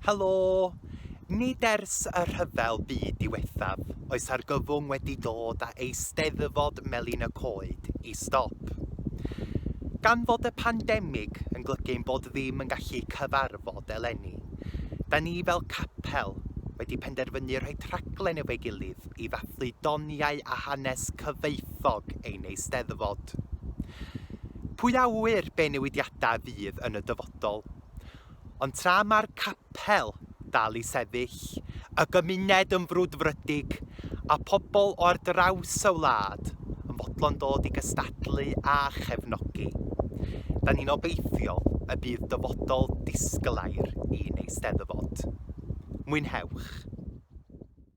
Helo! Nid ers y rhyfel byd diwethaf oes argyfwng wedi dod â Eisteddfod Melin y Coed i stop. Gan fod y pandemig yn glygu ein bod ddim yn gallu cyfarfod eleni, da ni fel capel wedi penderfynu rhoi traglen efo'i gilydd i ddathlu doniau a hanes cyfoethog ein eisteddfod. Pwy a ŵyr be newidiadau fydd yn y dyfodol. Ond tra mae'r capel dal i sefyll, y gymuned yn frwdfrydig, a phobl o ar draws y wlad yn fodlon dod i gystadlu a chefnogi, da ni'n obeithiol y bydd dyfodol disglair i'n Eisteddfod. Mwynhewch!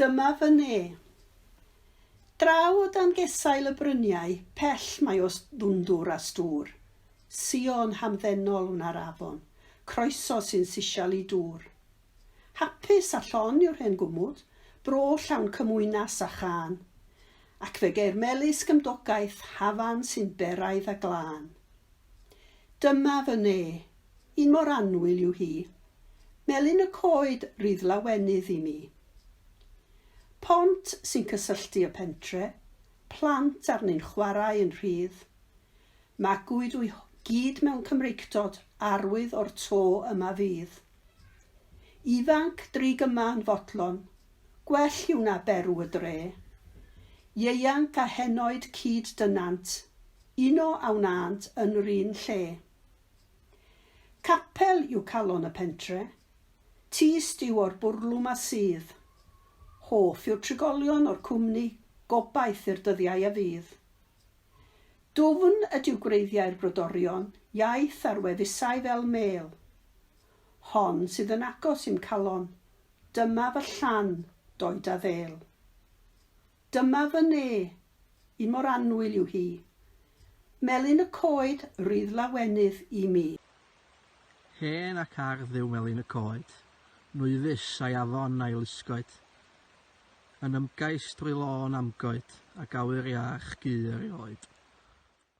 Dyma fy ne. Draw o dan gesail y bryniau pell mae os ddwndwr a stŵr, Sion hamddenol wna'r afon, croeso sy'n sisial i dŵr. Hapus a llon yw'r hen gwmwd, bro llawn cymwynas a chân, Ac fe geir melys gymdogaeth hafan sy'n beraidd a glân. Dyma fy ne. Un mor annwyl yw hi. Melyn y coed rydd lawenydd i mi. Pont sy'n cysylltu y pentre, plant arni'n chwarae yn rhydd. Magwyd wy gyd mewn Cymreictod arwydd o'r to yma fydd. Ifanc drig yma yn fodlon, gwell yw na berw y dre. Ieuanc a henoed cyd-dynant, uno a wnânt yn 'run lle. Capel yw calon y pentre. Tyst yw o'r bwrlwm a sudd. Hoff yw'r trigolion o'r cwmni, gobaith i'r dyddiau a fydd. Dwfn ydyw gwreiddiau'r brodorion, iaith ar wefusau fel mêl. Hon sydd yn agos i'm calon, dyma fy llan, d'oed a ddêl. Dyma fy ne, i mor annwyl yw hi. Melyn y coed rydd lawenydd i mi. Hen ac ardd yw melyn y coed, nwy fus a'i afon a'i lusgoed, yn ymgais drwy lôn amgoed ac awyr iach gu erioed.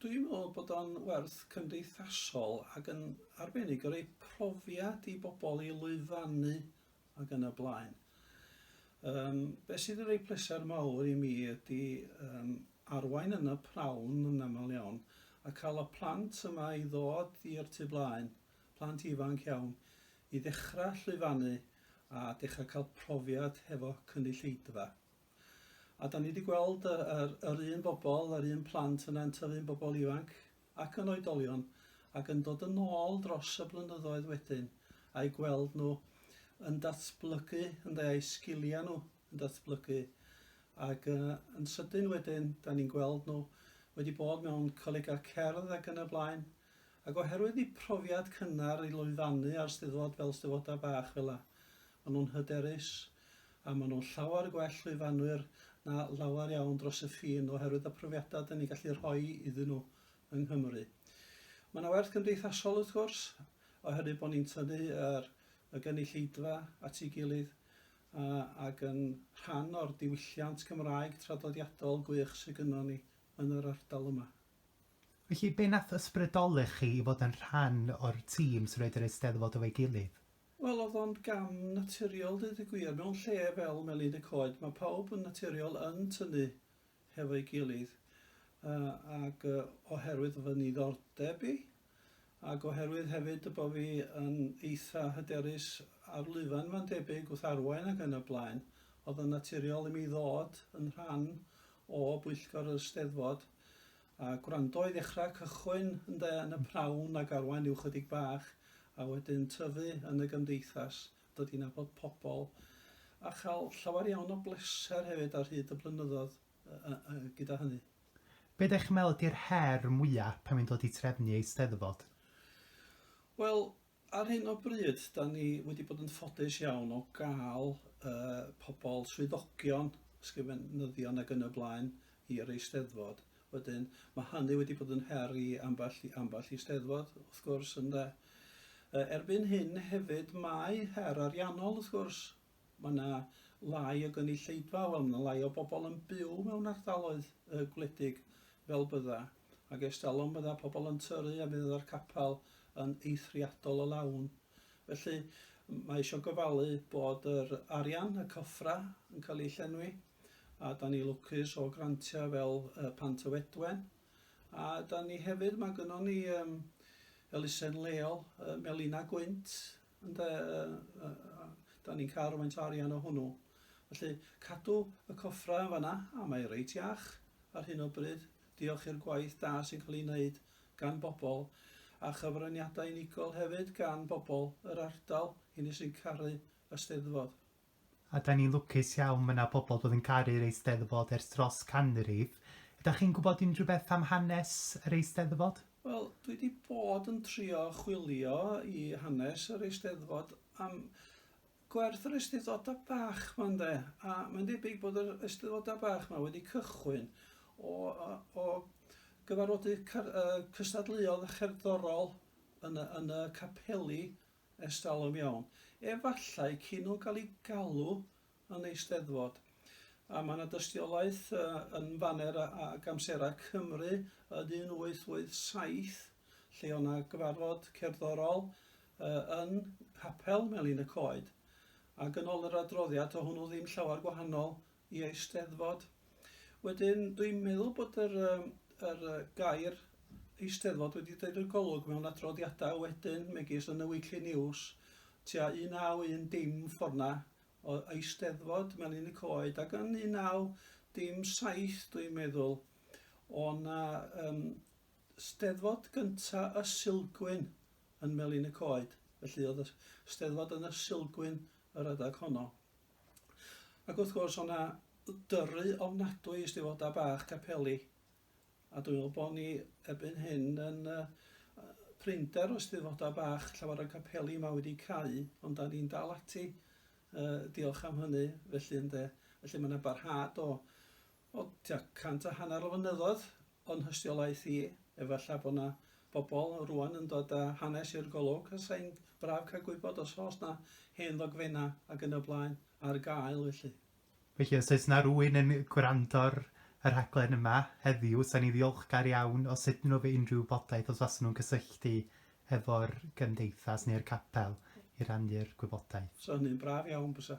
Dwi'n meddwl bod o'n werth cymdeithasol ac yn arbennig o roi profiad i bobl i lwyfannu ac yn y blaen. Um, be sydd yn rhoi pleser mawr i mi ydy um, arwain yn y prawn yn aml iawn a cael y plant yma i ddod i'r tu blaen, plant ifanc iawn, i ddechrau llwyfannu a dechrau cael profiad hefo cynulleidfa. A 'dan ni 'di gweld y yr yr un bobl, yr un plant yna yn tyfu'n bobl ifanc ac yn oedolion ac yn dod yn ôl dros y blynyddoedd wedyn a'u gweld nhw yn datblygu ynde a'u sgiliau nhw yn datblygu ac uh, yn sydyn wedyn 'dan ni'n gweld nhw wedi bod mewn colegau cerdd ac yn y blaen Ac oherwydd y profiad cynnar i lwyfannu ar Steddfod fel Steddfodau bach fela, maen nhw'n hyderus a maen nhw'n llawer gwell lwyfannwyr na lawer iawn dros y ffin oherwydd y profiadau dan ni'n gallu rhoi iddyn nhw yng Nghymru. Mae yna werth gymdeithasol wrth gwrs oherwydd bod ni'n tynnu yr y gynulleidfa at ei gilydd a, ac yn rhan o'r diwylliant Cymraeg traddodiadol gwych sydd gynnon ni yn yr ardal yma. Felly, be nath ysbrydoli chi i fod yn rhan o'r tîm sy'n rhoid yr Eisteddfod efo'i gilydd? Wel, o'dd o'n gam naturiol deud y gwir. Mewn lle fel Melin y Coed, ma' pawb yn naturiol yn tynnu hefo'i gilydd, yy ag yy oherwydd fy niddordeb i, ag oherwydd hefyd y bo' fi yn eitha hyderus ar lwyfan ma'n debyg, wrth arwain ac yn y blaen, o'dd o'n naturiol i mi ddod yn rhan o bwyllgor yr Eisteddfod. A gwrando i ddechrau cychwyn ynde yn y pnawn ag arwain ryw chydig bach a wedyn tyfu yn y gymdeithas, dod i nabod pobl a chael llawer iawn o bleser hefyd ar hyd y blynyddoedd gyda hynny. Be dych chi'n meddwl ydy'r her mwya pan mae'n dod i drefnu Eisteddfod? Wel, Ar hyn o bryd, da ni wedi bod yn ffodus iawn o gael uh, pobl swyddogion, ysgrifenyddion ac yn y blaen i'r eisteddfod. Wedyn, mae hynny wedi bod yn her i ambell, ambell i eisteddfod, wrth gwrs, ynde. Uh, erbyn hyn hefyd, mae her ariannol, wrth gwrs, Mae yna lai o gynulleidfa, wel, mae yna lai o bobl yn byw mewn ardaloedd yy gwledig fel bydda, ac ers talwm bydda pobl yn tyrru a mi fydda'r capel yn eithriadol o lawn. Felly, mae eisiau gofalu bod yr arian, y cyffra, yn cael ei llenwi, a da ni lwcus o grantiau fel yy Pant y Fedwen, a da ni hefyd, mae gynnon ni yym elusen leol yy Melina Gwynt, Ynde, dan ni'n cael rhywfaint o arian o hwnnw. Felly, cadw y coffrau yn fanna, a mae reit iach ar hyn o bryd, diolch i'r gwaith da sy'n cael ei wneud gan bobl, a chyfraniadau unigol hefyd gan bobl yr ardal, hynny sy'n caru y Steddfod. A da ni'n lwcus iawn, ma' 'na pobl bod yn caru'r Eisteddfod ers dros canrif. Ydach chi'n gwybod unrhyw beth am hanes yr Eisteddfod? Wel, dwi 'di bod yn trio chwilio i hanes yr Eisteddfod am gwerth yr Eisteddfodau bach 'ma ynde, a mae'n debyg bod yr Eisteddfodau bach 'ma wedi cychwyn o o gyfarfodydd cystadleuol a cherddorol yn y yn y capeli Ers talwm iawn. Efallai cyn nhw gael eu galw yn Eisteddfod. A mae 'na dystiolaeth yn faner ag Amserau Cymru yn 1887 lle oedd 'na gyfarfod cerddorol yn Nghapel Melin y Coed. Ac yn ôl yr adroddiad, to' hwnnw ddim llawer gwahanol i Eisteddfod. Wedyn dwi'n meddwl bod yr yym yr yy gair Eisteddfod wedi deud y golwg mewn adroddiadau wedyn megis yn y Weekly News tua 19 dim ffordd 'na o Eisteddfod Melin y Coed ac yn 19 dim 7 dwi'n meddwl o' 'na yym Steddfod gynta y Sulgwyn yn Melin y Coed felly oedd y Steddfod yn y Sulgwyn yr adeg honno. Ac wrth gwrs, o'na dyrru ofnadwy i Eisteddfodau Bach Capeli, a dwi'n meddwl bod ni erbyn hyn yn uh, prinder o Eisteddfodau Bach llawer o capeli yma wedi cau, ond da ni'n dal ati, uh, diolch am hynny, felly ynde. Felly mae yna barhad o, O tua cant a hanner o flynyddoedd o'n nhystiolaeth i, efallai bod 'na bobl rŵan yn dod â hanes i'r golwg, a 'sa hi'n braf cael gwybod os oes 'na hen ddogfennau ac yn y blaen ar gael felly. Felly os oes 'na rywun yn gwrando ar y rhaglen yma heddiw, 'sa ni'n ddiolchgar iawn os ydyn nhw efo unrhyw wybodaeth, os fasen nhw'n cysylltu efo'r Gymdeithas neu'r Capel i rannu'r gwybodaeth. 'Sa hynny'n braf iawn bysa.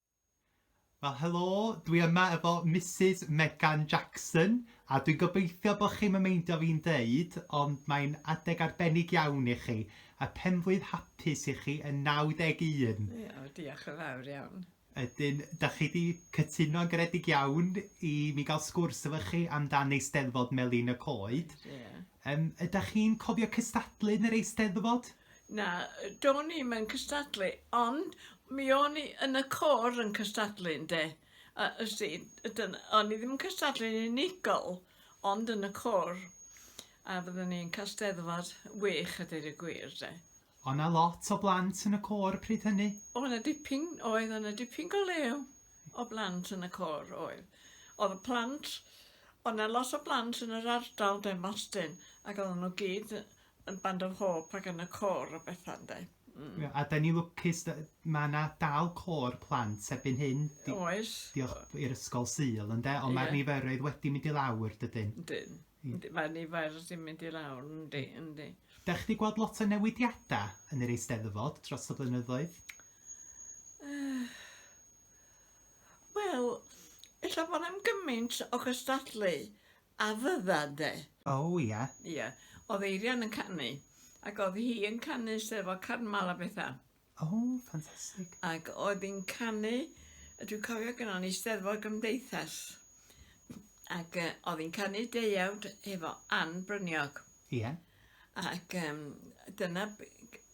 Wel helo, dwi yma efo Misus Megan Jackson a dwi'n gobeithio bod chi'n yn meindio fi'n deud ond mae'n adeg arbennig iawn i chi a penflwydd hapus i chi yn 91. Ie, diolch yn fawr iawn. Ydyn, da chi wedi cytuno'n garedig iawn i mi gael sgwrs efo chi amdan Eisteddfod Melin y Coed. Ie. Yym, ydych chi'n cofio cystadlu yn yr Eisteddfod? Na, do'n i'm yn cystadlu, ond mi o'n i yn y côr yn cystadlu ynde. A ysti, o'n i ddim yn cystadlu'n unigol, ond yn y côr. A fyddwn ni'n cael steddfod wych a dweud y gwir de. O' 'na lot o blant yn y côr pryd hynny? O' 'na dipyn oedd, o' 'na dipyn go lew o blant yn y côr oedd. O'dd y plant o' 'na lot o blant yn yr ardal de Mostyn ac oedden nhw gyd yn band of hope ac yn y côr a betha ynde? Mm. Ie, a 'dan ni lwcus d- ma' 'na dal côr plant erbyn hyn. Di- Oes. Diolch i'r ysgol Sul ynde, ond ma'r Ie. niferoedd wedi mynd i lawr dydyn? Ydyn. Ie. Yndi, Mae'r nifer sy'n mynd i lawr, yndi, yndi. Dach chi 'di gweld lot o newidiada yn yr Eisteddfod dros y blynyddoedd? Wel, ella bod na'm gymaint o gystadlu A fydda de. O ia. Ia. Odd Eirian yn canu. Ac odd hi yn canu Steddfod Carnmal a betha. O, ffantastig. Ac oedd hi'n canu, dwi'n cofio gynnon ni Steddfod Gymdeithas. Ac uh, oedd hi'n canu deuawd efo Ann Bryniog. Ia. Ac um, dyna,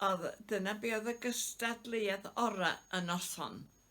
oedd, dyna be oedd y gystadleuaeth ora y noson.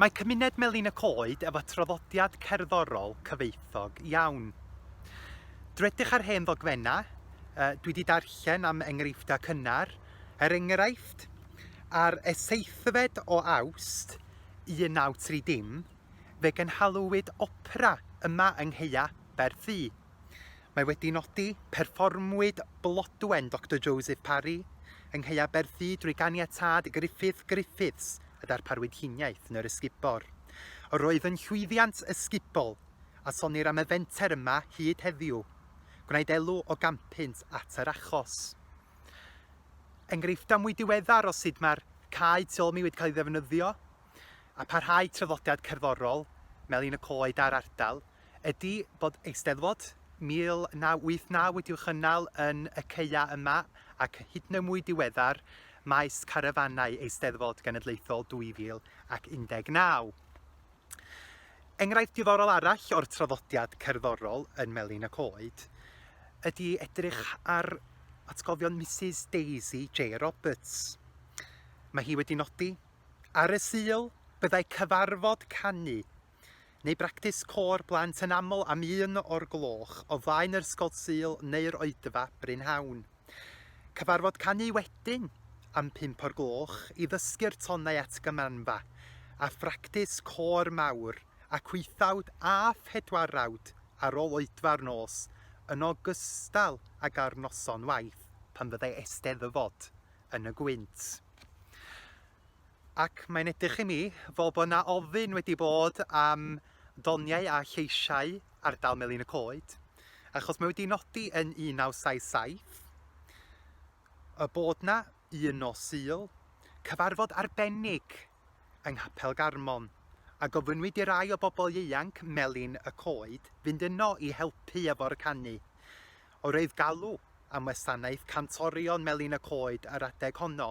Mae cymuned Melin y Coed efo traddodiad cerddorol cyfoethog iawn. Dwedych ar hen ddogfennau, uh, dwi wedi darllen am enghreifftiau cynnar, er enghraifft, ar y seithfed o awst 1930, fe gynhalwyd opera yma yng Ngheia, Berthu. Mae wedi nodi, Perfformwyd Blodwen Doctor Joseph Parry yng Nghaeaberthu drwy ganiatâd Griffith Griffiths a darparwyd huniaeth yn yr ysgubor. Yr oedd yn llwyddiant ysgubol a sonnir am y fenter yma hyd heddiw. Gwnaed elw o gampynt at yr achos. Enghreifftiau mwy diweddar o sut mae'r cae tu ôl mi wedi cael ei ddefnyddio a pharhau traddodiad cerddorol Melin y Coed a'r ardal. ydy bod Eisteddfod 1989 wedi'w chynnal yn y caeau yma ac hyd yn oed mwy diweddar maes carafannau Eisteddfod Genedlaethol 2019. Enghraifft diddorol arall o'r traddodiad cerddorol yn Melin y Coed ydy edrych ar atgofion Mrs Daisy J Roberts. Mae hi wedi nodi, ar y Sul byddai cyfarfod canu neu bractis côr blant yn aml am un o'r gloch o flaen yr Ysgol Sul neu'r Oedfa brynhawn. Cyfarfod canu wedyn am pump o'r gloch i ddysgu'r tonau at gymanfa, a phractis côr mawr ac wythawd a phedwarawd ar ôl oedfa'r nos, yn ogystal ag ar noson waith pan fyddai Eisteddfod yn y gwynt. Ac mae'n edrych i mi fel bod 'na ofyn wedi bod am doniau a lleisiau ardal Melin y Coed, achos mae wedi nodi yn 1977 y bod 'na un nos Sul cyfarfod arbennig yng Nghapel Garmon, a gofynnwyd i rai o bobl ieuanc Melin y Coed fynd yno i helpu efo'r canu. Oedd galw am wasanaeth cantorion Melin y Coed yr adeg honno.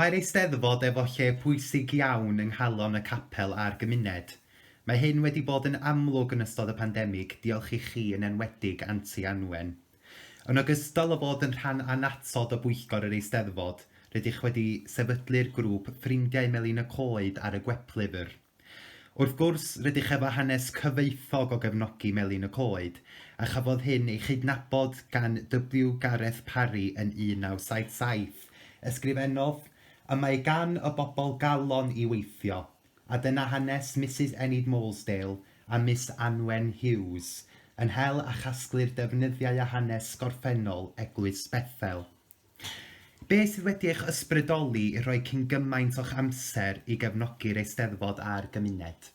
Mae'r Eisteddfod efo lle pwysig iawn yng nghalon y capel a'r gymuned. Mae hyn wedi bod yn amlwg yn ystod y pandemig, diolch i chi yn enwedig Anti Anwen. Yn ogystal â bod yn rhan annatod o bwyllgor yr Eisteddfod, rydych wedi sefydlu'r grŵp Ffrindiau Melin y Coed ar y gweplyfr. Wrth gwrs, rydych efo hanes cyfoethog o gefnogi Melin y Coed, a chafodd hyn ei chydnabod gan W. Gareth Parry yn 1977. Ysgrifennodd, Y mae gan y bobl galon i weithio, A dyna hanes Misus Enid Moulsdale a Miss Anwen Hughes, yn hel a chasglu'r defnyddiau a hanes gorffennol Eglwys Bethel. Be' sydd wedi eich ysbrydoli i rhoi cyn gymaint o'ch amser i gefnogi'r Eisteddfod a'r gymuned?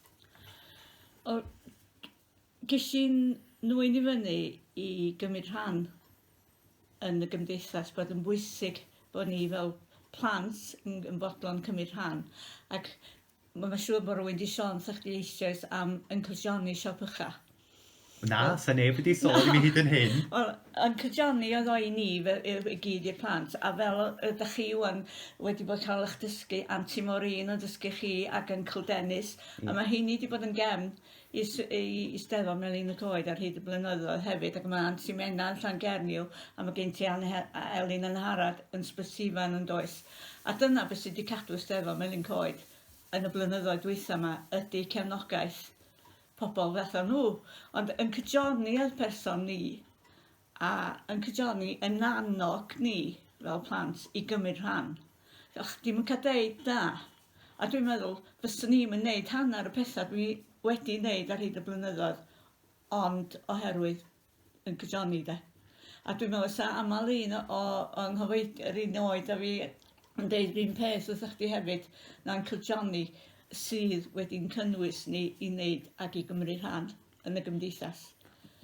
O, g- ges i'n nwy'n i fyny i gymryd rhan yn y gymdeithas bod yn bwysig bod ni fel plant yn, yn fodlon cymryd rhan ac mae'n siŵr bod rhywun wedi sôn wrthych chi eisoes am Uncle Johnny siop ycha. Na, well, sa neb wedi sôn i mi hyd yn hyn. Wel, yn Johnny oedd o'i ni i gyd i'r plant, a fel ydych chi wan wedi bod cael eich dysgu, Anti Maureen yn dysgu chi ac Uncle Dennis, mm. a mae heini wedi bod yn gefn i Eisteddfod Melin y Coed ar hyd y blynyddoedd hefyd ac mae Ansi Menna yn Llangernyw a mae gen ti Anne a Elin yn Harad yn Sbysifan yn does a dyna beth sydd wedi cadw Eisteddfod Melin Coed yn y blynyddoedd dwytha yma ydy cefnogaeth pobl fatha nhw ond yn cyjoni fel person ni a yn cydio'ni yn annog ni fel plant i gymryd rhan. O'ch chdi'm yn cael deud na. A dwi'n meddwl fyswn i'm yn neud hanner y pethau dwi wedi neud ar hyd y blynyddoedd ond oherwydd yn cydio'ni de. A dwi'n meddwl sa aml un o, o, o nghyfoed- yr un oed a fi yn deud yr un peth wrthych chdi hefyd, na'n cydio'ni sydd wedi'n cynnwys ni i neud ac i gymryd rhan. yn y gymdeithas.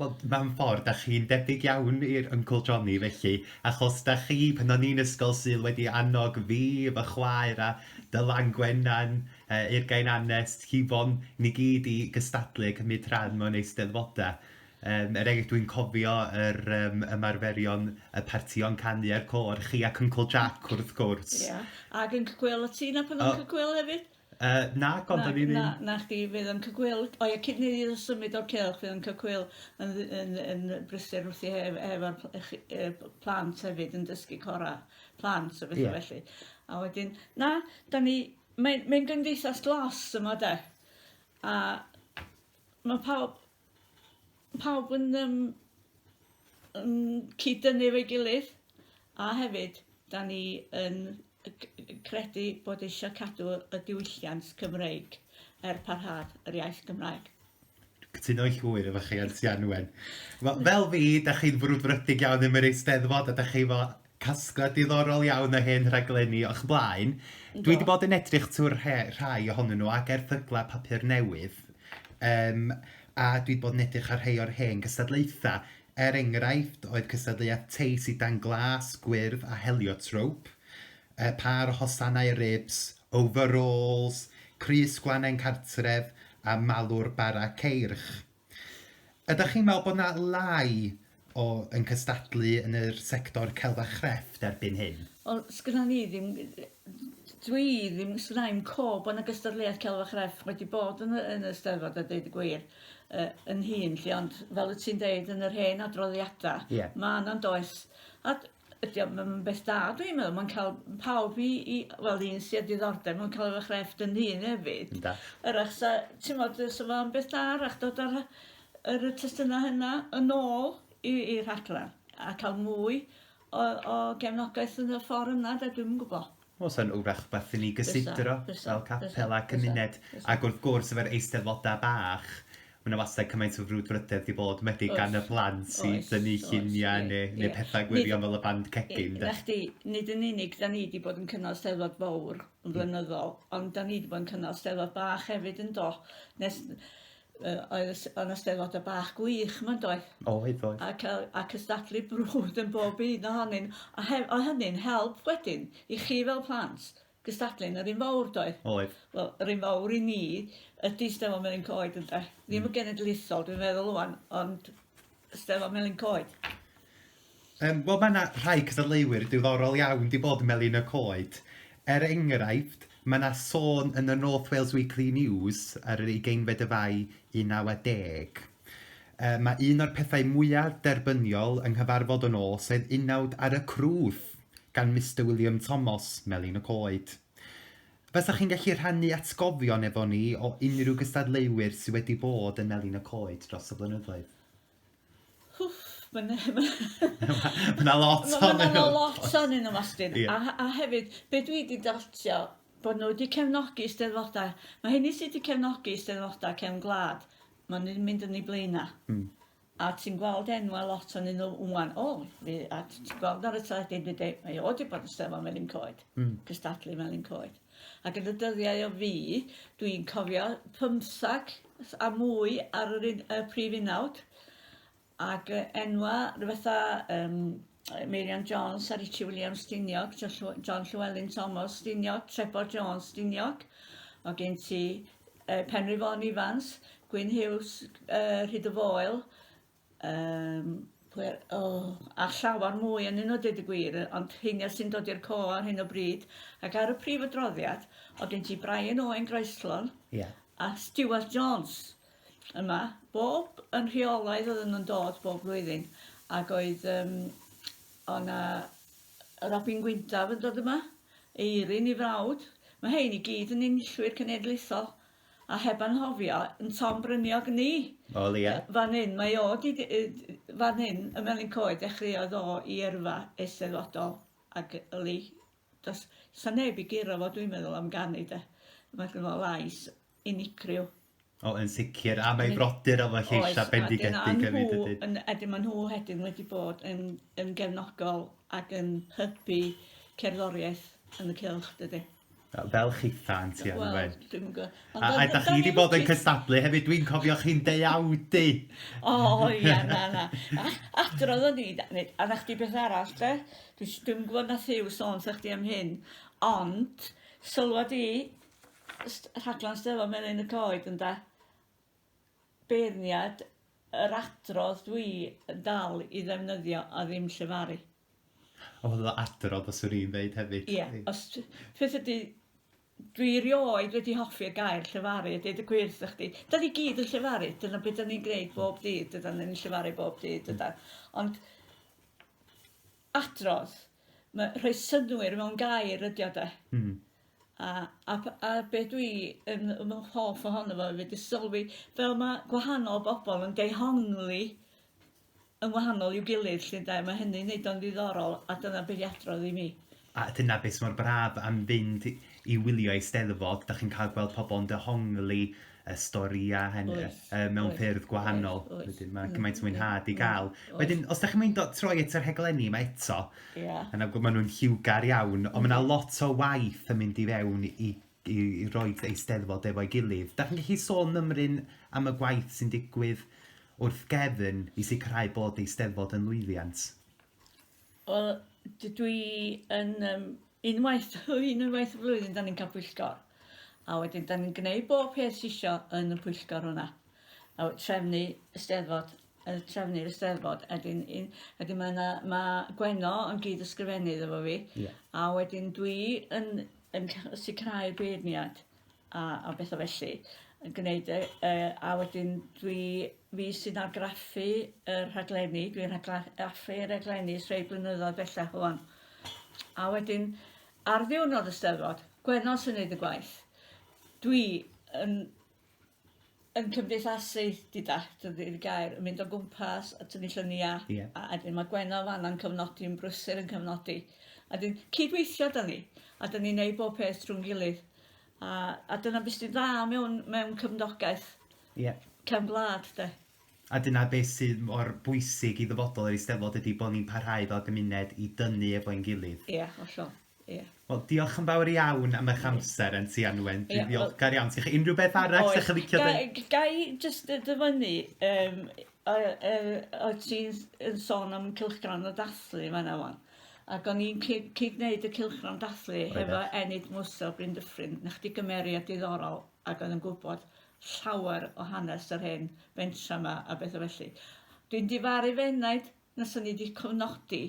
Wel, mewn ffordd, dach chi'n debyg iawn i'r Uncle Johnny felly, achos dach chi, pan o'n i'n ysgol, sydd wedi annog fi, fy chwaer a Dylan Gwenan, uh, Urgain Anest, Hifon, ni gyd i gystadlu a cymryd rhan mewn eisteddfodau. Um, er enghraifft, dwi'n cofio yr um, ymarferion y partïon canu a'r cor, chi ac Uncle Jack wrth gwrs. Ie, yeah. ac yn cygwyl y tîn a pan o'n cygwyl hefyd. Yy, nac ond o'n i ddim. Na, na chdi fydd yn cygwyl. O ia, cyn i ni symud o'r cylch fydd yn cygwyl yn yn yn brysur wrth i hef efo'r pl- chi- yy p- plant hefyd yn dysgu cora plant a betha Ie. felly. A wedyn na, 'dan ni mae'n mae'n gymdeithas glos yma 'de. A ma' pawb Pawb yn yym yn cyd-dynnu efo'i gilydd a hefyd 'dan ni yn yy c- yy credu bod e isio cadw y diwylliant Cymreig er parhad yr iaith Gymraeg. Cytuno'n llwyr efo chi Aunty Anwen. Wel fel fi, 'dach chi'n frwdfrydig iawn am yr Eisteddfod a 'dach chi efo Casgliad diddorol iawn o hen raglenni o'ch blaen. Yndw. Dwi 'di bod yn edrych trwy'r rhe- rhai ohonyn nhw ac erthyglau papur newydd yym a dwi 'di bod yn edrych ar rhai o'r hen gystadlaethau. Er enghraifft oedd cystadleuaeth teis i dan glas, gwyrdd a heliotrope, yy pâr o hosanau ribs, overalls, crys gwlannau'n cartref a malwr bara ceirch. Ydych chi'n meddwl bod yna lai o yn cystadlu yn yr sector celf a chrefft erbyn hyn? Wel, sgynna ni ddim, dwi ddim, sgynna i'm co bod yna gystadleuaeth celf a chrefft wedi bod yn y, yn y Steddfod a deud y gwir uh, yn hun lly, ond fel y ti'n deud yn yr hen adroddiadau, yeah. mae yna'n does. A ydi o ma' ma'n beth da dwi'n meddwl ma'n ca'l pawb i i wel un sy â diddordeb mewn celf a chrefft yn hŷn efyd. Ynda. 'W'rach 'sa t'mod yy sa fo'n beth da 'w'rach dod â rha- yr y testuna hynna yn ôl i i'r rhaglan a ca'l mwy o o gefnogaeth yn y ffor yna 'de dwi'm yn gwbo. Wel, sa'n wrach rhywbeth i ni gysidro fel capel a cymuned. Ac wrth gwrs, efo'r eisteddfodau bach, mae 'na wastad cymaint o frwdfrydedd 'di bod, enwedig gan y plant i dynnu lluniau neu pethau gwirion fel y band cegin 'de. 'Na chdi, nid yn unig 'dan ni 'di bod yn cynnal 'Steddfod fowr yn flynyddol, ond 'dan ni 'di bod yn cynnal 'Steddfod bach hefyd yndo? Nes yy oedd y s- o' 'na Steddfodau bach gwych 'ma yndoedd? Oedd oedd. Ac yy a cystadlu brwd yn bob un ohonyn a hef- o' hynny'n help wedyn i chi fel plant gystadlu'n yr un fowr doedd? Oedd. Wel yr un fowr i ni ydi Steddfod Melin Coed ynde? Ddim y genedlaethol dwi'n meddwl ŵan ond Steddfod Melin Coed. Yym, wel mae 'na rhai cystadleuwyr diddorol iawn 'di bod yn Melin y Coed. Er enghraifft, mae 'na sôn yn y North Wales Weekly News ar yr ugeinfed o Fai 1910. Yy, mae un o'r pethau mwya' derbyniol yng nghyfarfod y nos oedd unawd ar y crwth gan Mister William Tomos, Melin y Coed. Fasech chi'n gallu rhannu atgofion efo ni o unrhyw gystadleuwyr sydd wedi bod yn Melin y Coed dros y blynyddoedd? Hwff, ma' 'na ma' 'na... Ma' 'na lot ohonyn nhw. Ma' 'na lot ohonyn nhw Mostyn. Ie. A he- a hefyd be' dwi 'di dotio bo' n'w 'di cefnogi 'Steddfoda'. Ma' rheini sy' 'di cefnogi 'Steddfoda' cefn gwlad ma' nw'n mynd yn 'u blaena'. Hmm. A ti'n gweld enwa' lot o'nyn nhw ŵan. O fi a t- ti'n gweld ar y teledu yndydi? Mae o 'di bod yn 'Steddfod Melin Coed. Hmm. Cystadlu Melin Coed. Ac yn y dyddiau o fi, dwi'n cofio pymthag a mwy ar yr un, y prif unawd, ac uh, enwa fatha um, Meirion Jones a Richie Williams Stiniog, John Llewellyn Thomas Stiniog, Trevor Jones Stiniog, o gen ti uh, Penry Fôn Ifans, Gwyn Hughes uh, Rhyd y Foel, Yym pwy o a llawer mwy yn un o dweud y gwir ond hyn sy'n dod i'r co ar hyn o bryd ac ar y prif adroddiad o gen ti Brian Owen Groeslon yeah. a Stuart Jones yma bob yn rheolaidd oedd yn dod bob blwyddyn ac oedd um, o'na Robin Gwyndaf yn dod yma eirin i frawd mae hein i gyd yn unllwyr cenedlaethol a heb anghofio 'yn Tom Bryniog ni. O leia. Fan 'yn, mae o 'di d- yy d- fan 'yn ym Melin Coed dechreuodd o 'i yrfa Eisteddfodol ac yli do's 'sa neb i guro fo dwi'n meddwl am ganu 'de. Mae gynno fo lais unigryw. O yn sicir a mae 'i brodyr efo lleisa' bendigedig hefyd dydyn? Oes a dyna nhw ydyn ma' nhw wedyn wedi bod yn yn gefnogol ac yn hybu cerddoriaeth yn y cylch dydi? Fel chitha'n ti arno fe. Wel, dwi'm yn gwybod. A, a da chi wedi bod yn cystadlu hefyd, dwi'n cofio chi'n deuawdu! O, ia, na, na. A, adrodd o'n i, neu, a na chdi beth arall, de? Dwi, dwi'm yn gwybod na thiw sôn sa chdi am hyn, ond, sylwad i, rhaglen Steddfod Melin y Coed, yn da, beirniad yr adrodd dwi yn dal i ddefnyddio a ddim llefaru. O fel fel adrodd os wn i'n ddeud hefyd. Ie os t- beth ydi dwi rioed wedi hoffi'r gair llefaru deud y gwir 'tha chdi. 'Dan ni gyd yn llefaru dyna be' 'dan ni'n gneud bob dydd dydan ni'n llefaru bob dydd dydan? Ond adrodd ma' rhoi synnwyr mewn gair ydi o de? Hmm. A a p- a be' dwi yn yn fy hoff ohono fo efyd yw sylwi fel ma' gwahanol bobol yn dehongli yn wahanol i'w gilydd 'lly ynde, mae hynny'n neud o'n ddiddorol a dyna be' 'di adrodd i mi. A dyna beth sy mor braf am fynd i wylio Eisteddfod, 'dach chi'n cael gweld pobl yn dehongli y storïau hynny... Oes. ...yy mewn ffyrdd gwahanol. Oes, oes. Wedyn ma' gymaint o mwynhad i ga'l. Oes, oes. Wedyn os 'dach chi'n meindio troi at y rhaglenni 'ma eto... Ia. ...a nawr ma' nhw'n lliwgar iawn, ond ma' 'na lot o waith yn mynd i fewn i i i roid Eisteddfod efo'i gilydd. 'Dach chi'n gallu sôn mymryn am y gwaith sy'n digwydd Wrth gefn i sicrhau bod Eisteddfod yn lwyddiant. Wel, dydw i yn um, unwaith, unwaith y flwyddyn, da ni'n cael pwyllgor. A wedyn, da ni'n gwneud bob peth sisio yn y pwyllgor hwnna. A trefnu ysteddfod, trefnu'r ysteddfod. A wedyn, wedyn mae, yna, mae Gwenno yn gyd ysgrifennydd efo fi. Yeah. A wedyn dwi yn, yn sicrhau'r beirniad. a a betha felly yn gneud e yy a wedyn dwi fi sy'n argraffu y rhaglenni dwi'n rhagla- raffu raglenni ers rei blynyddoedd bellach rŵan a wedyn ar ddiwrnod y 'Steddfod Gwener sy'n neud y gwaith dwi yn yn cymdeithasu gyda, dydy'r gair, yn mynd o gwmpas a tynnu lluniau, yeah. a wedyn mae Gwenno fanna'n cyfnodi, yn brysur yn cyfnodi. A dyn cydweithio da ni, a dyn ni'n neud bob peth drwy'n gilydd. A, a dyna beth sy'n dda mewn, mewn cyfnogaeth yeah. cefn gwlad, de. A dyna beth sydd mor bwysig i ddyfodol yr Eisteddfod ydy bod ni'n parhau fel gymuned i dynnu efo'n gilydd. Ie, yeah, hollol. Ie. Wel diolch yn fawr iawn am eich amser yn Tŷ Anwen. Dwi'n ddiolchgar iawn. Sgynnoch chi unrhyw beth arall Oes. 'dych chi'n licio ddeud? Ga- ga i jyst yy dyfynnu yym o yy o' ti'n s- yn sôn am cylchgrawn y dathlu yn fanna ŵan ac o'n i'n cyd cyd-neud y cylchgrawn dathlu hefo Enid Mwsa o Bryn Dyffryn. 'Na chdi gymeriad diddorol ag oedd yn gwbod llawer o hanes yr hen fentra 'ma a betha felly. Dwi'n difaru f'enaid na 'san ni 'di cofnodi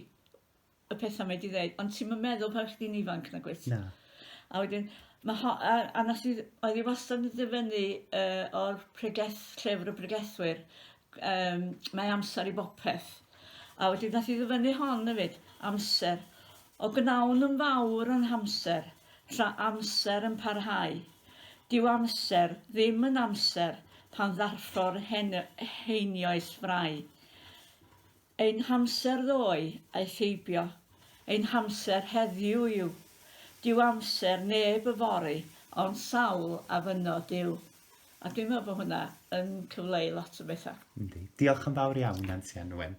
y pethau mae di ddeud, ond ti'n meddwl pan chdi'n ifanc na gwyt? Na. A wedyn, mae ho, a, a nes i, oedd i wastad yn dyfynnu uh, o'r pregeth, llyfr y pregethwyr, um, mae amser i bopeth. A wedyn, nes i ddyfynnu hon hefyd, amser. O gnawn yn fawr yn hamser, tra amser yn parhau. Dyw amser ddim yn amser pan ddarffor heinioes frai. Ein hamser ddoe aeth heibio, ein hamser heddiw yw. Dyw amser neb yfory ond sawl a fynno Duw. A dwi'n meddwl bod hwnna yn cyfleu lot o bethau. Yndi. Diolch yn fawr iawn, Nansi Anwen.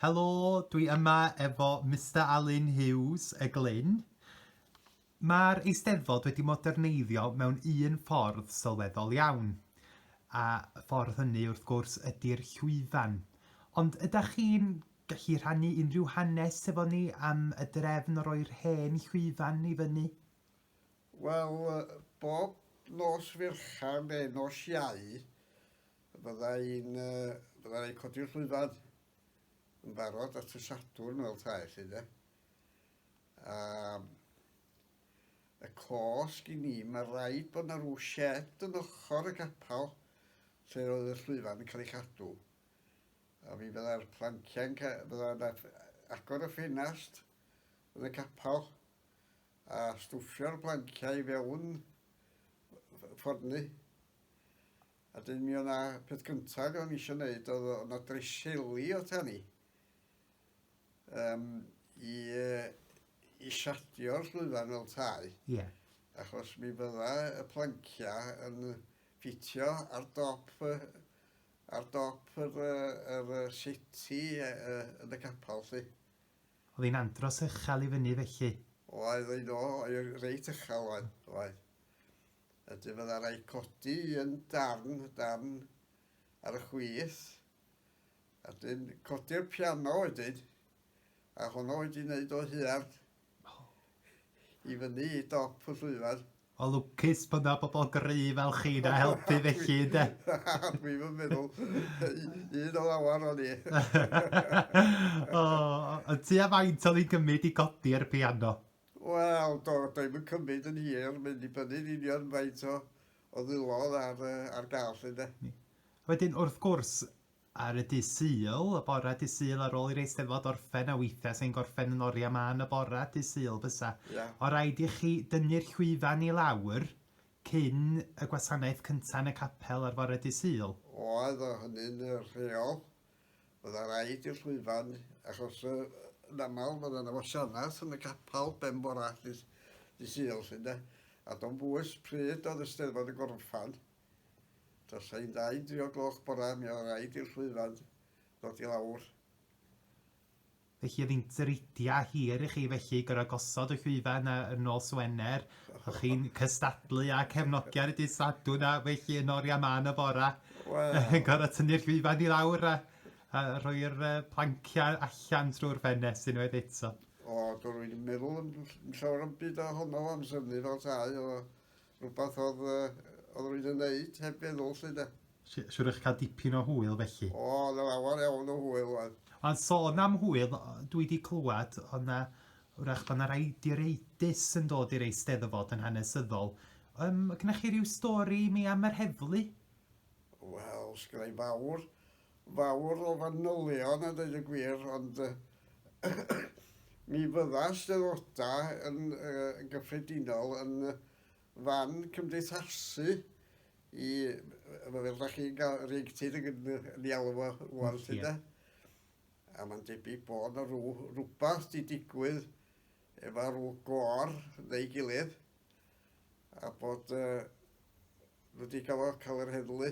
Helo, dwi yma efo Mister Alun Hughes, y Glyn. Mae'r Eisteddfod wedi moderneiddio mewn un ffordd sylweddol iawn, a y ffordd hynny wrth gwrs ydy'r llwyfan. Ond ydych chi'n gallu rhannu unrhyw hanes efo ni am y drefn o roi'r hen llwyfan i fyny? Wel, bob nos Fercher neu nos Iau, Byddai'n byddai codi'r llwyfan yn barod at y Sadwrn fel tae chi de. A y cosg i ni, mae rhaid bod yna rhyw shed yn ochr y capel lle oedd y llwyfan yn cael ei chadw. A mi byddai'r planciau'n byddai'n agor y ffenast yn y capel a stwffio'r planciau fewn ffordd ni. A 'dyn mi o' 'na, peth cynta' ag o'n i isio neud o'dd o' 'na dreseli o tan i yym i yy i siardio'r llwyfan fel tai. Ie. Achos mi fydda y plancia' yn ffitio ar dop y ar dop yr yy yr yy seti yy yy yn y capal 'lly. O'dd 'i'n andros uchel i fyny felly? Oedd oedd o oedd reit uchel oedd oedd. y du fyddai rhaid codi un darn darn ar y chwith, a dyn codi'r piano wedyn, a honno wedi wneud o huarn i fyny i dop y llwyfan. O lwcus bod yna bobl gry fel chi na helpu felly, de? Dwi'n yn meddwl, un o lawer o'n i. o, y tu a faint o'n i'n gymryd i godi'r piano? Wel, do, doedd dim yn cymryd yn hir, mae'n dibynnu yn union faint o o ddwylo oedd ar yy ar gael 'lly ynde? Ni. A wedyn wrth gwrs ar y dydd Sul, y bore dydd Sul ar ôl i'r Eisteddfod orffen, a weithiau 'sa hi'n gorffen yn oriau mân y bore dydd Sul bysa. Ia. O' raid i chi dynnu'r llwyfan i lawr cyn y gwasanaeth cynta yn y capel ar fore dydd Sul. Oedd, o' hynny'n yy rheol. Byddai rhaid i'r llwyfan, achos yy yn aml fydda yna wasanaeth yn y capal ben bora ddydd dy Sul lly ynde? A do'n bwys pryd oedd y Steddfod yn gorffan. Tos ein dau dri o gloch bora mi oedd rhaid i'r llwyfan ddod i lawr. Felly oedd hi'n dridiau hir i chi felly gorfod gosod y llwyfan 'na yn ôl Swener, o'ch chi'n cystadlu â cefnogion y dydd Sadwrn a felly yn oriau mân y bora yn gorfod tynnu'r llwyfan i lawr a, a rhoi'r uh, planciau allan trwy'r ffenest unwaith eto. O, dwi wedi meddwl yn llawer am byd o honno amser ni fel tai, oedd o Rhywbeth oedd, oedd rwy'n yn neud heb feddwl, lle de. Siwr eich cael dipyn o hwyl felly? O, oedd yn lawer iawn o hwyl oedd. Ond sôn am hwyl, dwi wedi clywed oedd na, wrach bod na rai direidus yn dod i'r Eisteddfod yn hanesyddol. Um, gynnech chi rhyw stori i mi am yr heddlu? Wel, sgynnau fawr. fawr o fanylion a dweud y gwir ond mi fydda Eisteddfodau yn gyffredinol yn fan cymdeithasu i, fel ydych chi'n cael rheictid yn ei alw fo rwan lly de. A mae'n debyg bod na rhyw rhywbeth di digwydd efo rhyw gor neu gilydd a bod nhw wedi cael yr heddlu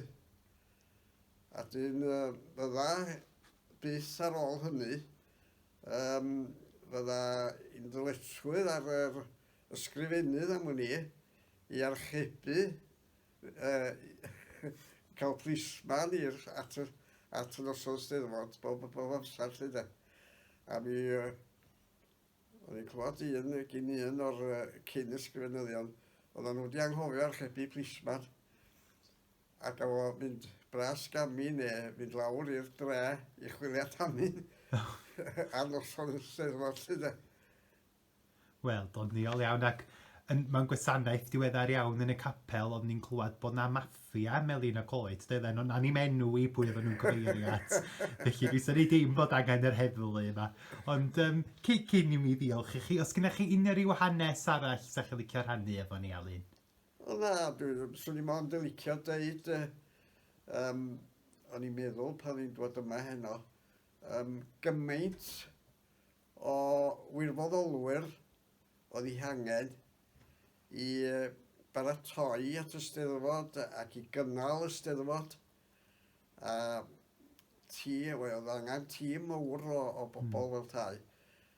A dyn fydda byth ar ôl hynny, um, fydda i'n ddyletswydd ar yr ysgrifennydd am wn i i archebu uh, cael plisman i'r at, at yn ysgol steddfod bob, bob amser lle da. A mi uh, o'n i'n clywed un gyn un o'r uh, cyn ysgrifennyddion oedden nhw wedi anghofio archebu plisman. ac o fynd bras gamu neu fynd lawr i'r dre i chwilio tamu ar noson y Steddfod 'lly de. Wel, doniol iawn ac yn, mewn gwasanaeth diweddar iawn yn y capel oeddwn ni'n clywed bod 'na maffia melin y coed, doedden nhw'n anim enw i pwy oedden nhw'n cyfeirio at. Felly dwi'n syni dim bod angen yr heddlu yma. Ond um, cyn i mi ddiolch i chi, os gennych chi unrhyw hanes arall sa'ch chi'n licio rhannu efo ni, Alun? O na, dwi, swn i mond yn licio deud, uh, um, o'n i'n meddwl pan ni'n dod yma heno, um, gymaint o wirfoddolwyr oedd ei hangen i baratoi at y steddfod ac i gynnal y steddfod. A ti, oedd angen tîm mawr o, o bobl mm. fel tai.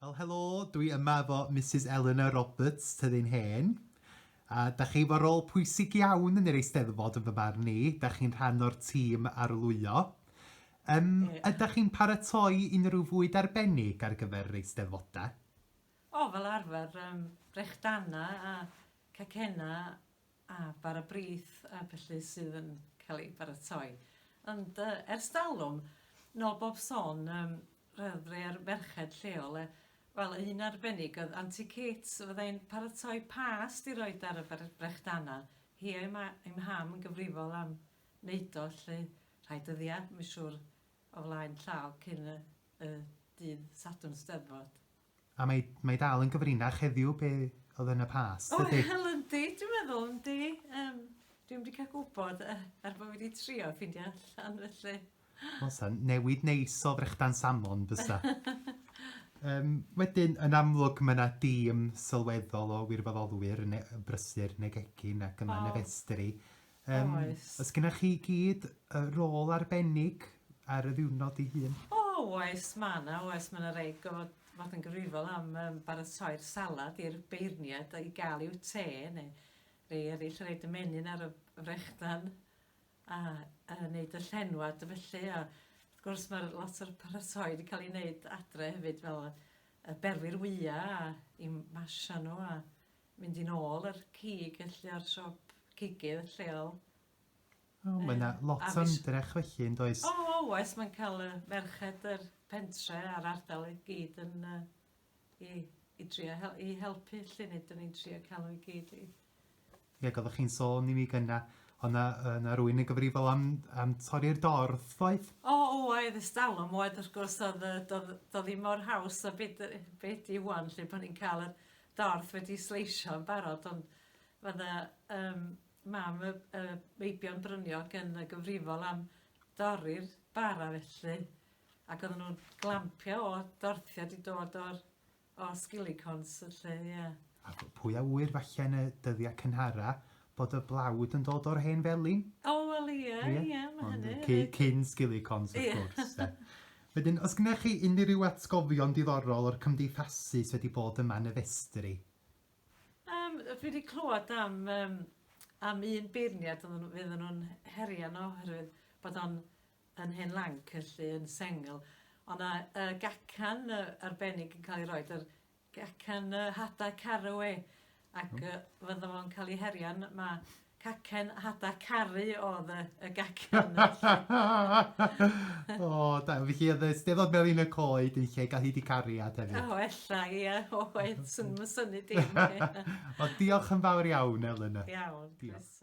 Wel helo, dwi yma efo Misus Eleanor Roberts, Tŷ ein Hen. A da chi efo rôl pwysig iawn yn yr Eisteddfod yn fy marn i, da chi'n rhan o'r tîm arlwyo. Um, ydych chi'n paratoi unrhyw fwyd arbennig ar gyfer yr Eisteddfodau? O, fel arfer, um, brechdanna a cacenna a bar a brith a felly sydd yn cael ei baratoi. Ond uh, ers dalwm, nôl bob son, um, Rhoddir merched lleol e wel un arbennig oedd Anti Kate so fydda i'n paratoi past i roid ar y bre- brechdana hi a'i ma- a'i mham yn gyfrifol am neud o lly rhai dyddia myn siwr o flaen llaw cyn y y dydd Sadwrn Steddfod. A mae mae dal yn gyfrinach heddiw be oedd yn y past, O, dydy? wel yndi, dwi'n meddwl, yndi. Yym, dwi'm 'di cael gwybod, yy, er bod fi 'di trio ffeindio allan, felly. Wel, sa newid neis o frechdan salmon bysa. Yym, wedyn, yn amlwg, mae yna dîm sylweddol o wirfoddolwyr yn ne- brysur yn y gegin ac yma yn y festri. Um, oes. Os gynnwch chi gyd y rôl arbennig ar y ddiwrnod ei hun? O, oes, mae yna, oes, mae yna rei gofod fod yn gyfrifol am um, baratoi'r salad i'r beirniad i gael i'w te, neu rei eraill yn reid y menyn ar y frechdan a, a wneud y llenwad a felly. A, wrth gwrs mae lot o'r paratoi wedi cael ei wneud adre hefyd fel y berwi'r wyau a i masio nhw a Mynd yn ôl yr cig felly o'r siop cigydd lleol. O mae 'na lot o ymdrech felly yn does? O oes mae'n cael y merched yr pentre a'r ardal i gyd yn yy i i drio hel- i helpu lly nid o'n i'n trio cael nhw i gyd i Ie ac oeddech chi'n sôn i mi gynna o' 'na yy 'na rywun yn gyfrifol am am torri'r dorf doedd? O oedd ers dalwm oedd wrth gwrs oedd yy do'dd do'dd ddim mor haws a be' 'dy be' 'di ŵan lly pan ni'n ca'l yr dorth wedi sleisio yn barod ond ma' 'na yym mam y y meibion bryniog yn y gyfrifol am dorri'r bara felly ac odden nhw'n glampio o dorthiad i dod o'r o sgilicons felly ie. A pwy a ŵyr falle yn y dyddia cynhara bod y blawd yn dod o'r hen felin? O wel ie ie ma' hynny... Ond cyn sgilicons wrth gwrs 'de. Wedyn, os gennych chi unrhyw atgofion diddorol o'r cymdeithasu sy wedi bod yma yn y festri? Yym, dwi wedi clywed am yym am un beirniad oedden nhw oedden nhw'n herio yno oherwydd bod o'n yn hen lanc felly yn sengl. O' 'na yy gacan yy arbennig yn ca'l ei roid ar Cacen y Hadau Caru e ac yy fydda fo'n cael ei herio yn ma' cacen hada caru oedd y, y gacen. o, da, felly oedd y steddod melin y coed yn lle gael hyd i cariad hefyd. O, ella, ia, o, oedd, sy'n syni dim. o, diolch yn fawr iawn, Elena. Iawn, diolch.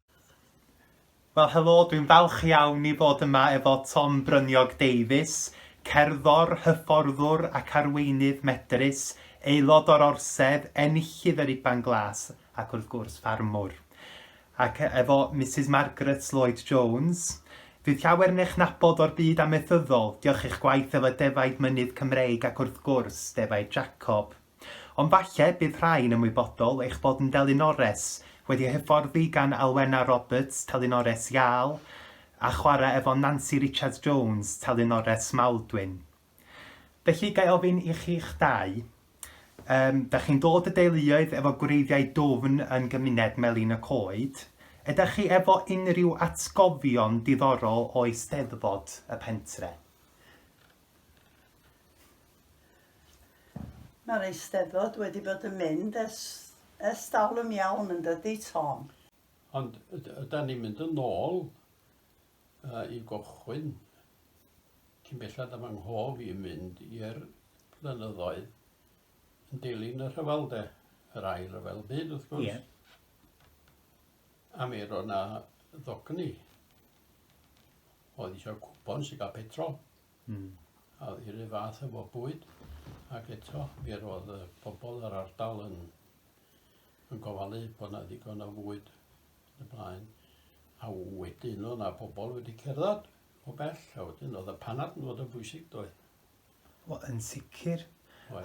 Wel helo, dwi'n falch iawn i fod yma efo Tom Bryniog Davies, cerddor, hyfforddwr ac arweinydd medrus, aelod o'r Orsedd, enillydd yr Iban Glas ac wrth gwrs ffarmwr. Ac efo Mrs Margaret Lloyd Jones, fydd llawer yn eich nabod o'r byd amaethyddol, diolch i'ch gwaith fel y defaid mynydd Cymreig ac wrth gwrs defaid Jacob. Ond falle bydd rhai'n ymwybodol eich bod yn ddelinores wedi hyfforddi gan Alwena Roberts, telinores Iâl, a chwarae efo Nansi Richards Jones, telinores Maldwyn. Felly, ga i ofyn i chi'ch dau, um, da chi'n dod y deuluoedd efo gwreiddiau dwfn yn gymuned Melin y Coed, ydych chi efo unrhyw atgofion diddorol o Eisteddfod y pentre? Mae'r Eisteddfod wedi bod yn mynd ers, ers dalwm iawn yn dydy, Tom? Ond yda ni'n mynd yn ôl uh, i gochwyn cyn bellad am anghof i mynd i'r blynyddoedd yn dilyn y rhyfel de, yr ail rhyfel byd wrth gwrs. Yeah. A mi roedd yna ddogni oedd eisiau cwpon sy'n cael petrol. Hmm. A oedd hi'r un fath efo bwyd, ac eto mi roedd y pobl yr ardal yn, yn gofalu bod yna ddigon o fwyd yn y blaen. A wedyn oedd yna pobl wedi cerdded o bell, a wedyn oedd y panad yn fod yn bwysig doedd. Wel, yn sicr.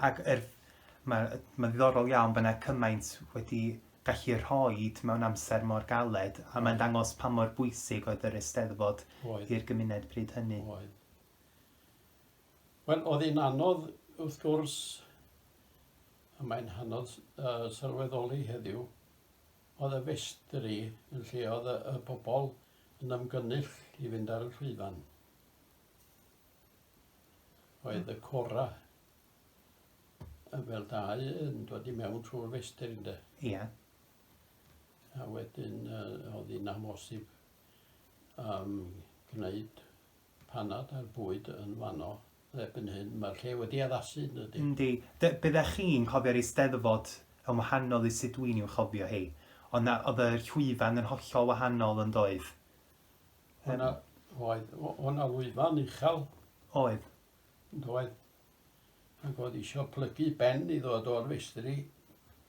Ac er, mae, mae ddiddorol iawn bod yna cymaint wedi gallu rhoi mewn amser mor galed a mae'n dangos pa mor bwysig oedd yr Eisteddfod i'r gymuned pryd hynny. Oedd. Wel, oedd hi'n anodd wrth gwrs, a mae'n hynod uh, sylweddoli heddiw, oedd y festri yn lle oedd y, y bobl yn ymgynnull i fynd ar y llwyfan. Oedd y cora fel dau yn dod i mewn trwy'r festr ynde? Ia. A wedyn uh, oedd hi'n amhosib um, gwneud panad a'r bwyd yn fanno erbyn hyn. Mae'r lle wedi addasu yn ydy. Yndi. Byddech chi'n cofio'r eisteddfod yn wahanol i sut dwi'n i'w chofio hi. Ond oedd y llwyfan yn hollol wahanol yn doedd. O'na, oedd, o'na lwyfan uchel. Oedd. Doedd. ac oedd eisiau plygu ben i ddod o'r festri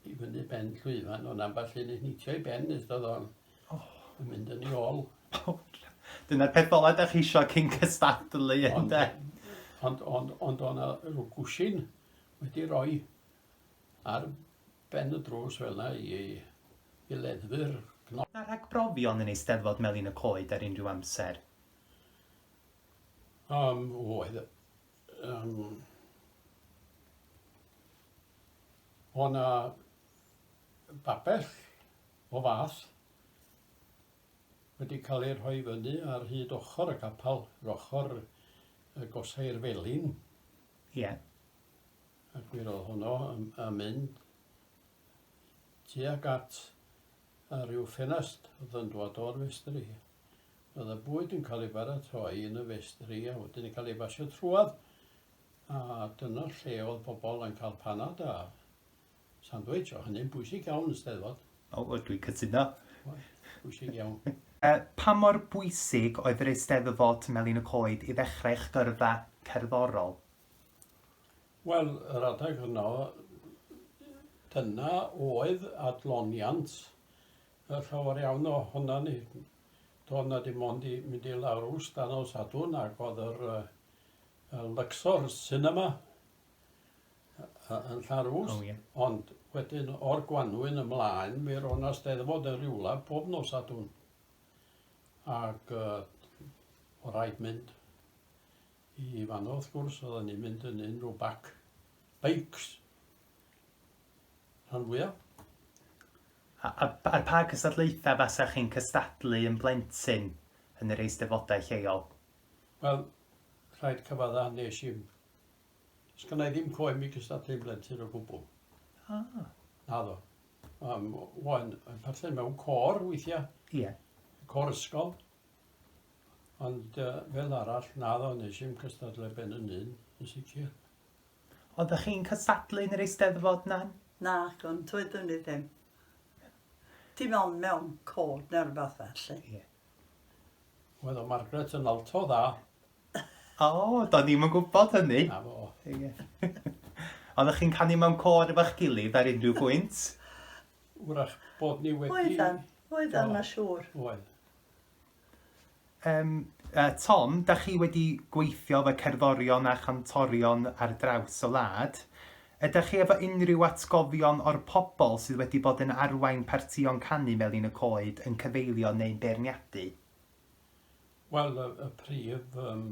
i fyny ben llwyfan, ond ambell un yn hitio i ben nes oedd o'n oh. yn mynd yn ei ôl. Oh, Dyna'r peth ola da chi eisiau cyn cystadlu, ynddo? Ond, ond, ond o'na rhyw gwsin wedi rhoi ar ben y drws fel yna i, i leddfu'r cnop. Na rhag brofion yn eisteddfod Melin y Coed ar unrhyw amser? Um, oedd, um, o na babell o fath wedi cael ei rhoi fyny ar hyd ochr y capel, yr ochr y gosau'r felin. Ie. Yeah. Ac mi roedd honno yn, yn mynd tuag at a rhyw ffenast oedd yn dod o'r festri. Roedd y bwyd yn cael ei baratoi yn y festri a wedyn yn cael ei basio trwodd, a dyna lle oedd pobl yn cael panad a sandwich, oedd hynny'n bwysig iawn yn Steddfod. O, o, dwi'n cytuno. Oedd, bwysig iawn. Yy, pa mor bwysig oedd yr Eisteddfod Melin y Coed i ddechrau eich gyrfa cerddorol? Wel, yr adeg yno, dyna oedd adloniant A llawer iawn o honna ni, doedd 'na dim ond i mynd i lawr rw stan o Sadwrn ac oedd yr y Luxor Cinema yn Llanrwst. Oh, yeah. Ond wedyn o'r Gwanwyn ymlaen mi roedd 'na Steddfod yn rywle pob nos Sadwrn ac uh, o rhaid mynd i fanno wrth gwrs oedden ni'n mynd yn unrhyw bac beics rhan fwyaf Ar pa gystadlaethau fasech chi'n cystadlu yn blentyn yn yr Eisteddfodau lleol? Wel, rhaid cyfadda, nes i'm... Sgynna i ddim coem i gystadlu yn blentyn o gwbl. Ah. Naddo. Um, o'n yn parthen mewn cor weithiau. Ie. Yeah. Cor ysgol. Ond uh, fel arall, naddo, nes i'm cystadlu ben yn un, yn sicr. Oeddech chi'n cystadlu yn yr Eisteddfod nan? Nac, ond doeddwn i ddim. Dim ond mewn cod neu rhywbeth felly. Ie. Wel, o Margaret yn alto dda. O, do'n ni'm yn gwybod hynny. Na fo. Ie. Oeddech chi'n canu mewn cod efo'ch gilydd ar unrhyw bwynt? Wrach bod ni wedi... Oeddan, oeddan, ma siŵr. Oedd. Yym, yy, Tom, da chi wedi gweithio efo cerddorion a chantorion ar draws y wlad. Ydach chi efo unrhyw atgofion o'r pobl sydd wedi bod yn arwain partïon canu Melin y Coed yn cyfeilio neu'n beirniadu? Wel, y y prif yym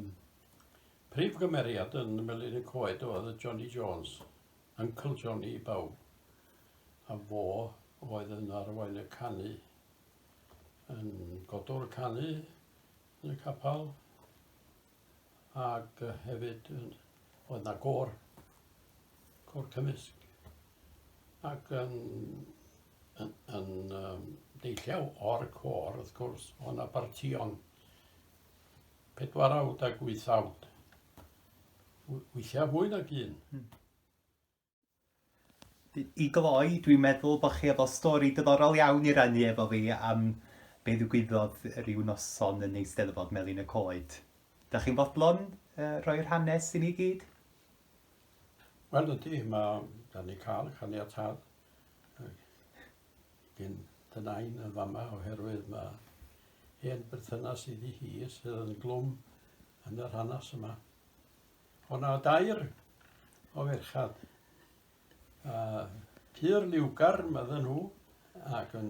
prif gymeriad yn Melin y Coed oedd y Johnny Jones, Uncle Johnny i bawb, a fo oedd yn arwain y canu yn godwr canu yn y capel ac hefyd oedd na gôr, côr cymysg ac yn, yn, yn um, deilliau o'r cor, wrth gwrs, o na bartion pedwar awd ac wyth awd. Weithiau fwy nag un. Hmm. I gloi, dwi'n meddwl bod chi efo stori diddorol iawn i rannu efo fi am be ddigwyddodd rhyw noson yn Eisteddfod Melin y Coed. Da chi'n fodlon uh, rhoi'r hanes i ni gyd? Wel ydy, mae da ni cael caniatad gyn dy nain yn fama oherwydd mae hen berthynas iddi hi sydd yn glwm yn yr hanes yma. O' 'na dair o ferchad, a pur liwgar medden nhw, ac yn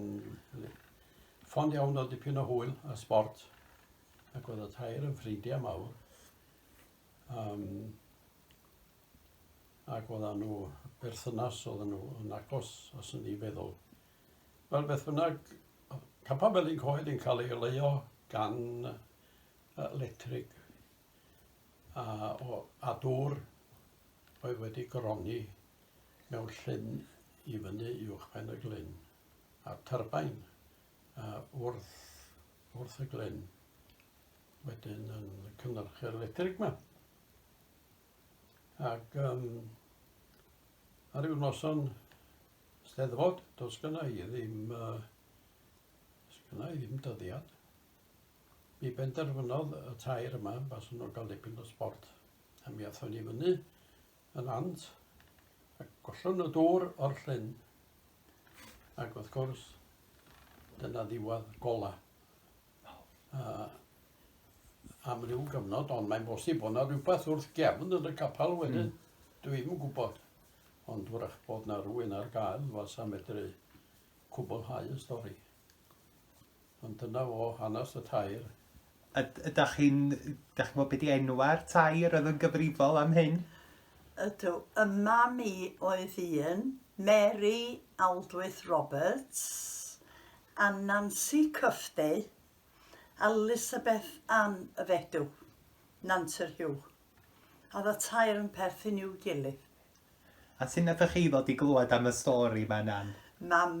ffond iawn o dipyn o hwyl a sbort, ac oedd y tair yn ffrindiau mawr. Um, ac oedd nhw berthynas oedd nhw yn agos os yn ei feddwl. Wel beth bynnag, Capa Felin Coed yn cael ei leio gan uh, Electric a, o, a dŵr oedd wedi goroni mewn llyn i fyny i uwchben y glyn, a'r tyrbain a, wrth, wrth y glyn wedyn yn cynhyrchu'r electric yma. Ac um, ar ryw noson steddfod, does gyna i ddim, uh, gyna i ddim dyddiad, Mi benderfynodd y tair yma baswn nhw'n cael dipyn o sbort a mi athon ni fyny yn ant a gollwn y dŵr o'r llyn ac wrth gwrs dyna ddiwedd gola. Uh, am ryw gyfnod, ond mae'n bosib bod yna rhywbeth wrth gefn yn y capel hmm. wedyn. Mm. Dwi ddim yn gwybod, ond wrach bod yna rhywun ar gael fasa medru cwblhau y stori. Ond dyna fo hanes y tair. A ydach chi'n... dach chi'n gwybod be di enwau'r tair oedd yn gyfrifol am hyn? Ydw, y mam i oedd un, Mary Aldwyth Roberts, a Nancy Cufftey, a Lysabeth Ann y Fedw, Nant yr Hiw. A oedd y tair yn perthyn i'w gilydd. A sut nathoch chi ddod i glywed am y stori ma Nan? Mam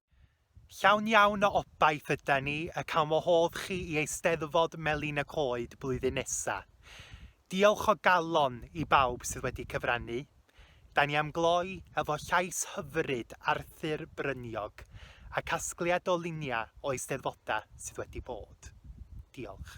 Llawn iawn o obaith yda ni y cawn wahodd chi i Eisteddfod Melin y Coed blwyddyn nesa. Diolch o galon i bawb sydd wedi cyfrannu. Da ni am gloi efo llais hyfryd Arthur Bryniog a casgliad o luniau o Eisteddfodau sydd wedi bod. Diolch.